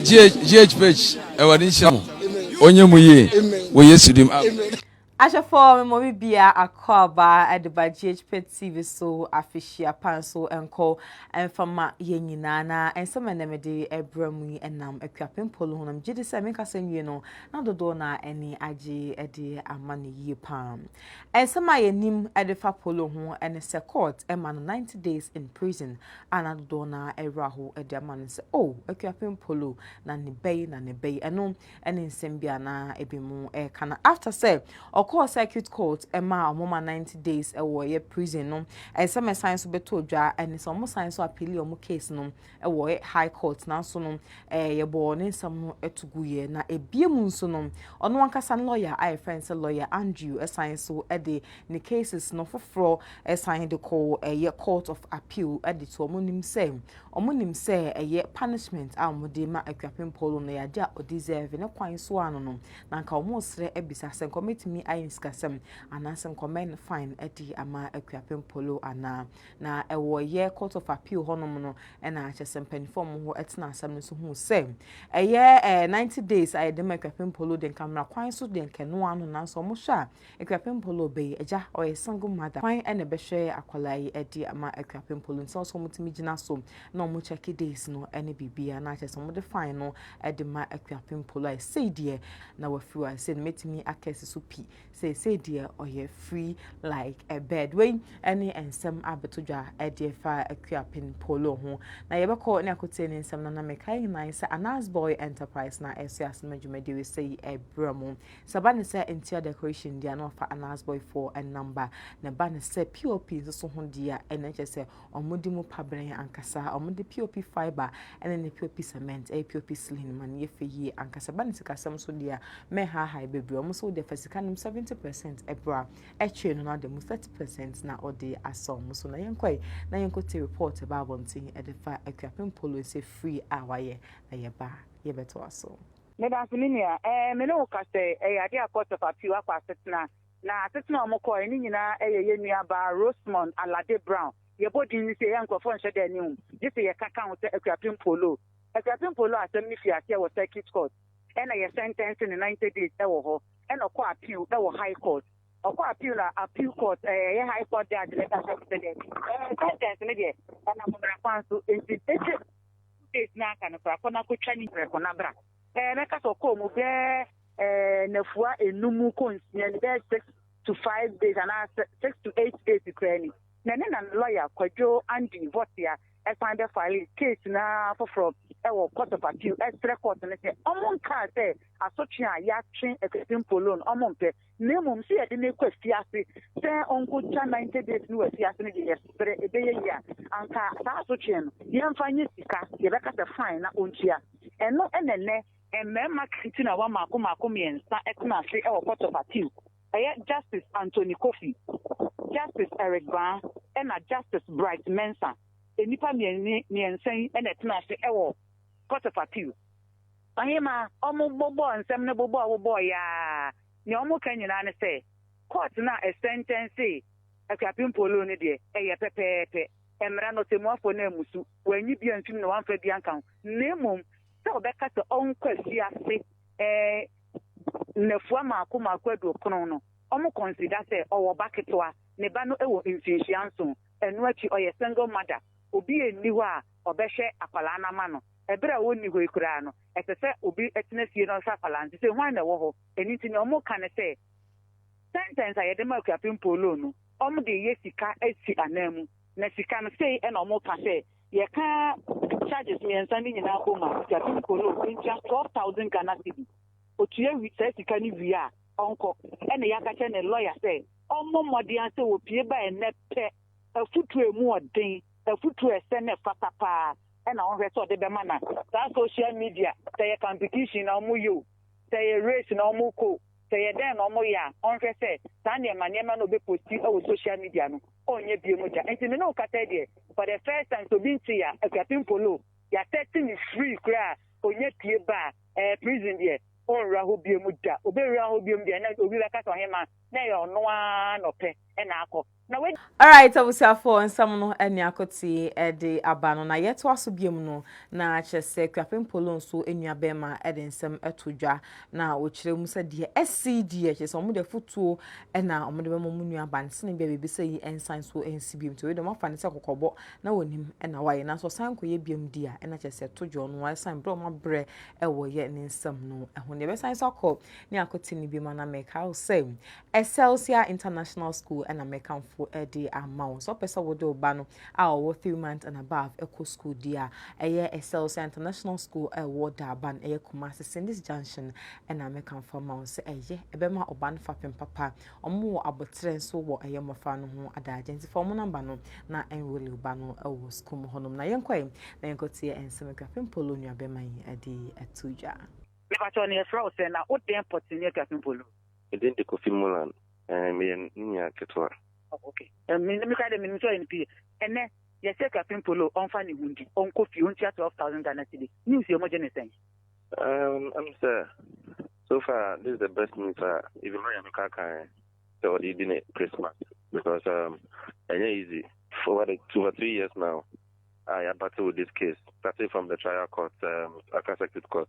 GHGH Awurade nhyira mo ɔnyɛ mu yie wɔ Yesu dim. Ahwɛfoɔ me mɔmi bia akɔ aba ɛde ba GHP TV so afehyia pan so ɛnkɔ ɛmfa ma yɛn nyinaa na ɛnsɛm ɛnɛ mede ɛbrɛ mu yi ɛnam akuapem polo ho na megye di sɛ menkasa nwie no na dodoɔ na ɛni agye ɛde ama no yie paa ɛnsɛm a yɛnim ɛde fa polo ho ɛne sɛ court ɛma no 90 days in prison a na dodoɔ no ara rewerɛ ahow de ama no sɛ, Oh, Akuapem Polo, na ne ba yi, na ne ba yi. Ɛno ne nsɛm bi a na ebinom reka. Na after sɛ ɔkɔɔ circuit court ma wɔn ma 90 days wɔ ɛyɛ prison no, ɛsɛ mɛsan so bɛtɔ dwa ne sɛ wɔsan nso appeal wɔn case no wɔ high court. Nanso no, eh, yɛbɔɔ ne nsɛm no to guiɛ. Na ebie mu nso no, ɔno ankasa ne lawyer a yɛfrɛ no sɛ lawyer Andrew san so de ne cases no foforɔ san de kɔɔ ɛyɛ court of appeal de to wɔn nim sɛ wɔn nim sɛ ɛyɛ punishment a wɔn de ma Akuapem Polo no yɛ adeɛ a ɔdeserve ne kwan so ano no na nka wɔn resrɛ abisa sɛ nka wɔbɛtumi ayɛ nsikasɛm anaasɛ nka wɔn fine adi ama Akuapem Polo anaa na ɛwɔ ɛyɛ court of appeal hɔnom no ɛna akyɛ sɛ mpanimfoɔ wɔn ho ɛtena asɛm no so hu sɛ ɛyɛ ɛɛ ninety days a yɛde ma Akuapem Polo de nka mmara kwan so de nkɛnoa no nanso wɔn hwɛ a Akuapem Polo ɔbɛyi agya ɔyɛ single mother kwan na ɛbɛhwɛ akwadaa yi ɛde ama Akuapem Polo nti ɔsɛ ɔmo tumi gyina so na ɔmo check days no ɛne biribiaa na kyerɛ sɛ ɔmo de fine no ɛde ma Akuapem Polo a ɛsei deɛ na wafiri hɔ a ɛsei no mɛtumi aka asi so pi sɛ ɛsei deɛ ɔyɛ free like a bird wei ɛne nsɛm abɛto dwa ɛde ɛfa Akuapem Polo ho na yɛbɛkɔ ne akotie ne nsɛm no na mekae nyinaa sɛ Anas Boy Enterprise na ɛso asɛm adwumadie wei sɛ yi ɛbrɛ mo Sɛ ɛba no sɛ interior decoration deɛ a na wɔfa Anas boy foɔ nam ba, na ɛba no sɛ POP nsoso ho deɛ a ɛnna kyerɛ sɛ wɔde mu pa brɛɛ ankasa. Wɔde POP fibre ne ne POP cement yɛ POP ceiling ma no yɛ fɛ yie ankasa. Ɛba no sikasɛm nso deɛ a, mɛnhaahae bebree. Wɔn nso wodeɛ fa sika nom seventy percent bra, ɛtwee no na wɔde mu thirty percent na wɔde asɔ wɔn so. Na yɛnkɔe na yɛnkɔtie report ɛba abɔnten de fa Akuapem Polo nsɛ free a wɔayɛ na yɛba a yɛbɛtoa so. Meda ase, me nua. Ɛɛ, me ne wo ka sɛ, ɛyɛ ade a Court of Appeal akɔ asetena. Na asetena a wɔkɔe no nyinaa yɛ yɛn nuabaa Rosemond Alade Brown. Yɛbɔ din no sei a, nkurɔfoɔ nhyɛ da nni ho, gye sɛ yɛka ka ho sɛ Akuapem Polo. Akuapem Polo asɛm no fii aseɛ wɔ Circuit Court, ɛna yɛsɛntɛnse no ninety days wɔ hɔ, ɛna ɔkɔɔ appeal wɔ High Court. Ɔkɔɔ appeal na Appeal Court, ɛɛ, ɛyɛ High Court Judge no ka kyerɛɛ no sɛ dɛn? Ɛɛ, sɛntɛnse no deɛ, ɛnam mmara kwan so, enti ɛtwam. Two days na aka no koraa kɔ na kotwa ne prɛko na bra. Ɛɛ mɛka sɛ ɔkɔɔ mu bɛɛ ɛɛ nafua enum kɔ nsia ni bɛɛ six to five days anaa six to eight days koraa ni na ne na ne lɔya Kwadwo Andy Votia ɛsan bɛ file case no ara foforɔ ɛwɔ court of appeal ɛsrɛ court no sɛ ɔmo nkaa sɛ asotwe a yɛatwe Akuapempo loan ɔmo mpɛ na mmom sɛ yɛde no kɔ afiase sɛ ɔnkɔtwa 90 days no wɔ afiase no deɛ yɛserɛ ɛbɛyɛ yie a anka saa asotweɛ no yɛmfa nyɛ sika yɛbɛka sɛ fine na ɔntua ɛno ɛna ɛnɛ mmarima kantimawa mmaako mmaako mmiɛnsa tena ase wɔ court of appeal ɛyɛ Justice Anthony Kofi Justice Eric Baa ɛna Justice Bright Mensah nnipa mmiɛnsa yi na ɛtena ase wɔ court of appeal. Ɔhema, wɔbobɔɔ nsɛm no bobɔ a wɔbobɔɔ yɛ ara. Nea wɔka nyinaa ne sɛ, Kɔɔt no a ɛsɛntɛnsee Akuapem Polo no deɛ, ɛyɛ pɛpɛɛpɛ. Mmara no, ɔtɛmmuafoɔ no ammusu. Wannyi bi amfim na wamfa bi anka ho, na mmom sɛ ɔbɛka sɛ ɔnkɔ afiase nnafua mmaako mmaako aduokron no, wɔkɔnsida sɛ ɔwɔ ba ketewa, ne ba no wɔ mfinhyia nson. Ɛno akyi, ɔyɛ single mother. Obi nni hɔ a ɔbɛhwɛ akwadaa no ama no. Bere a wɔnni hɔ yi koraa no, ɛsɛ sɛ obi tena fie na ɔhwɛ akwadaa no. Te sɛ hwan na ɛwɔ hɔ? Ɛno nti nea wɔka ne sɛ, Sɛntɛnse a yɛde ma akuapem Paulo no, wɔde reyɛ sika asi ananmu. Na sika no, sei na wɔka sɛ, Yɛka charges mmiɛnsa no nyinaa bom a, akuapem Paulo ntua twelve thousand Ghana cedi. Otua wi, saa sika no wie a, ɔnkɔ. Ɛnna yɛaka kyerɛ ne lɔya sɛ ɔmmɔ mmɔden ara sɛ opue ba ɛnnɛ pɛ. Afotu a emu wɔ den, afotu a ɛsɛ na ɛfata paa. na ɔnhwɛ sɛ ɔde bɛma na saa social media sɛ yɛ competition na ɔmo yɛ o sɛ yɛ race na ɔmo kɔ o sɛ yɛ dɛn na ɔmo yɛ a ɔnhwɛ sɛ saa nneɛma nneɛma na ɔbɛ posti ɛwɔ social media no ɔnyɛ bie mo gya nti me ne wo kasa deɛ for the first time sɛ obi nte ya akuapin polo ya sɛte ne free kura a ɔnya pie ba a ɛɛ prison deɛ ɔnwura hɔ bie mo gya ɔbɛ wura hɔ bie mo deɛ na obi bɛka sɛ ɔhema na ɛyɛ ɔno a na ɔpɛ ɛna akɔ. Na wei. Alright abusuafoɔ nsɛm no ɛne Akotee de aba no na yɛtoa so biom no na kyerɛ sɛ Kuapem Polo nso nua bɛɛma de nsɛm to dwa na ɔkyerɛ mu sɛ deɛ asi deɛ kyerɛ sɛ wɔn de afutuo na wɔn de bɛma wɔn nua ban sene bia biribi sɛ yi nsan so nsi biom nti wei de wɔn afa ne sɛ kɔkɔbɔ na wɔnim na wayɛ nanso ɔsan kɔyɛ biom di a ɛna kyerɛ sɛ to dwa ɔno ɛsan berɛ wɔn abrɛ ɛwɔ yɛ ne nsɛm no ɛho ne yɛbɛsan so akɔ ne Akotee ne biom ana mɛkae sɛ Excelsior International School na mɛkamfo de ama wo. Sɛ wopɛ sɛ wode wo ba no a ɔwɔ three months and above ɛkɔ school di a, ɛyɛ Excelsior International School a ɛwɔ Durban, ɛyɛ Kumasi Sindis Junction na mɛkamfo ama wo sɛ ɛyɛ. Ɛbɛma ɔba no fapem papa. Wɔn wɔ aboterɛ nso wɔ ɛyɛ mmɔfra no ho adagye nti fa wɔn nɔmba no na enrole wo ba no wɔ school mu hɔnom. Na yɛnkɔ ɛ na yɛnkɔtie nsɛm a Kwapem Polo nuabɛma yi de ato dwa. Mepakyɛw na yɛfrɛ wo sɛn na wo dɛn pɔtee ne Akuapem Polo. Me din de Kofi Mulan. Ɛɛ, meyɛ ne nua ketewa. Oh, okay. Um, me, me kura de, me, me sɛ ɔyɛ ne pie. Ɛnɛ, yɛsɛ Kwasi Mpolo ɔnfa ne ho ndi, ɔnkɔ fie, ɔntua 12,000 Ghana cedis. News yɛ ɔmogye ne sɛn? Um, I'm sɛ, so far, this is the best news a, even my yɛn ka kan sɛ ɔde di ne Christmas. Because, um, ɛnyɛ easy. For what, two or three years now, I battle with this case, starting from the trial court, um, Accra Circuit Court.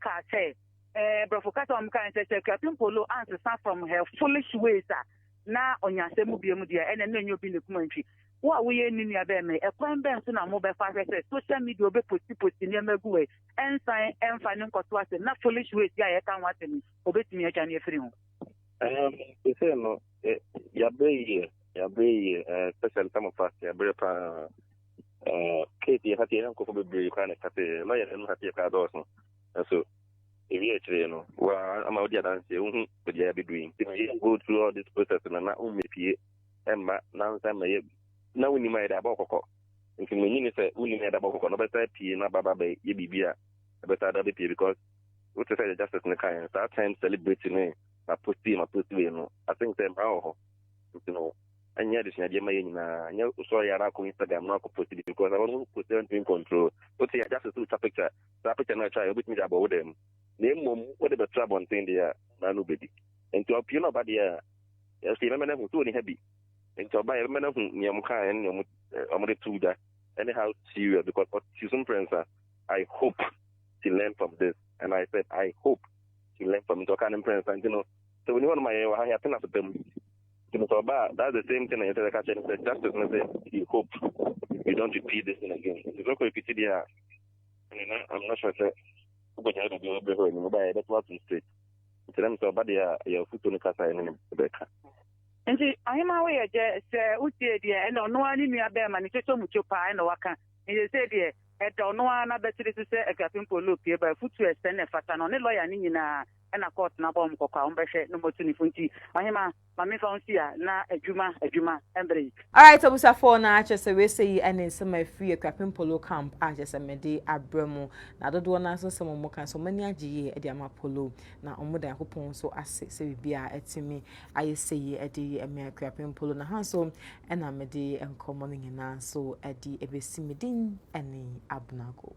kaa sɛ, eh, Brɔfo kasa a wɔkaa ne sɛ, sɛ Akuapem Mpolo ansesa from her foolish ways a, na ɔnya asɛm mu biam deɛ, ɛnɛ na ɛnyɛ obi ne kuma ntwi. Wo a woyɛ ne nua bɛn me, ɛkwan bɛn so na mobɛfa ahwɛ sɛ social media ɔbɛposti posti nneɛma agu hɔ yi, ɛnsan ɛmfa ne nkɔto asɛm na foolish ways yi a yɛka ho asɛm yi, ɔbɛtumi atwa ne afiri ho? Um, they say no, eh, yabrɛ yie, yabrɛ yie, eh, especially some of us, yabrɛ paa. Eh, kate yɛ hateɛ yɛ nkɔfo bebree koraa na ɛka sɛ ma yɛ no hateɛ koraa dɔɔso nso ewie akyerɛ no wa ama wodi adanseɛ wohu baabi a bɛduru yi nti na yɛ go through all this process no na wommɛpie ɛmma nansa mmɛyɛ na wonim a yɛde abɔ kɔkɔ nti manyini ne sɛ wonim a yɛde abɔ kɔkɔ na wobɛsa pie na baba bɛyɛ biribi a ɛbɛsa da bɛpie because wote sɛ yɛ justice no kaeɛ no saa time celebrity ne maposti maposti wei no i think sɛ mmaa wɔ hɔ nti no ɛnyɛ adesua deɛ ma yɛ nyinaa nyɛ wosɔre yɛ ara akɔ instagram na akɔ post bi because ɛhɔ no post yɛ ntumi control wote yɛ just sɛ wotwa picture saa picture no atwa yɛ wobɛtumi de abɔ wo dɛm na mmom wode bɛto abɔnten deɛ a na no bɛdi nti ɔpie na ɔba deɛ a yɛsɛ yɛbɛmɛ no ahu sɛ ɔni ha bi nti ɔba yɛbɛmɛ no ahu nea ɔmo kaa ɛne nea ɔmo de to da ɛne how serious because ɔte so mprɛnsa I hope she learn from this and I said I hope she learn from it ɔka ne mprɛnsa nti no sɛ ɔni hɔ no ma yɛn wɔ ha yɛatena so dam nti no sɛ ɔba a that's the same thing na yɛn sɛ yɛka kyerɛ no sɛ justice no sɛ you hope you don't repeat this thing again nti sɛ ɔkɔ repeat deɛ a ɛne na I'm not sure sɛ wobɛgya biribi a wɔbrɛ hɔ anim wobaa yɛbɛto atom straight nti na mesɛ ɔba deɛ a yɛ afutuo no kasa ɛne ne bɛka nti ahema woyɛ gyɛ sɛ wotie deɛ ɛna ɔno ara ne nua bɛrima ne kyɛkyɛ mu kyo paa ɛna waka ɛyɛ sɛ deɛ ɛda ɔno ara n'abɛtiri so sɛ afiafe mpo lopie ba afutu ɛsɛ na ɛfata no ne lɔya ne nyinaa na court no abɔ wɔn kɔkɔ a wɔbɛhwɛ no motu ne fo nti ɔhema ma me fa wo nsi a na adwuma adwuma mbrɛ yi. Alright abusuafoɔ na kyerɛ sɛ wei sɛ yi ɛne nsɛm a ɛfiri Akuapem Polo camp a kyerɛ sɛ mede abrɛ mo na dodoɔ no ara nso nsɛm a wɔn ka nso wɔn ani agye yie de ama Polo na wɔn da Nyankopɔn nso ase sɛ biribiara atumi ayɛ sɛ yie de yi ɛme Akuapem Polo na ha nso ɛna mede nkɔmmɔ no nyinaa nso ɛde ɛbɛsi me din ɛne Abena Gold.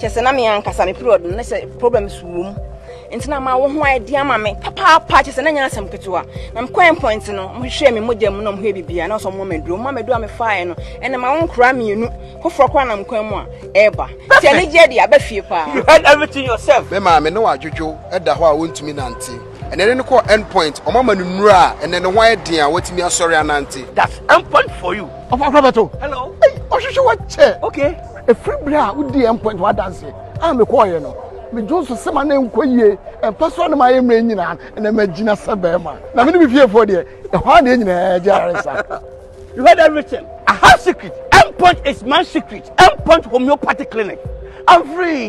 kyɛ sɛ na me ankasa me period no na sɛ problems wɔ mu nti na ma wo ho ayɛ de ama me papaapa kyɛ sɛ na nyɛ asɛm ketewa na mekɔɛ point no mohwehwɛɛ me mogya mu na mohwɛ bibia na ɔsɛ ɔmɔ maduro ma maduro a mefaeɛ no ɛna ma wo nkora mmienu foforɔ koraa nam kwan mu a ɛreba nti ɛne gyeɛ de aba fie paa you had everything yourself me maame ne wadwodwo ɛda hɔ a wɔntumi nante ɛnɛ ne no kɔɔ end point ɔma ma no nnuro a ɛnɛ ne ho ayɛ den a watumi asɔre anante that's end point for you ɔfa kora bɛto hello ɔhwehwɛ wakyɛ okay Ɛfiri berɛ a wodii end point wɔ adanseɛ a mekɔɔeɛ no, medwo nso sɛ ma na ɛnkɔ yie, ɛmfa so a na mayɛ mmerɛ nyinaa na magyina sɛ bɛrima. Na me ne me fiefoɔ deɛ, ɛhɔ ara na yɛn nyinaa gye ayaresa. You heard everything. I have secret. End point is my secret. End point homeopathic clinic. I'm free.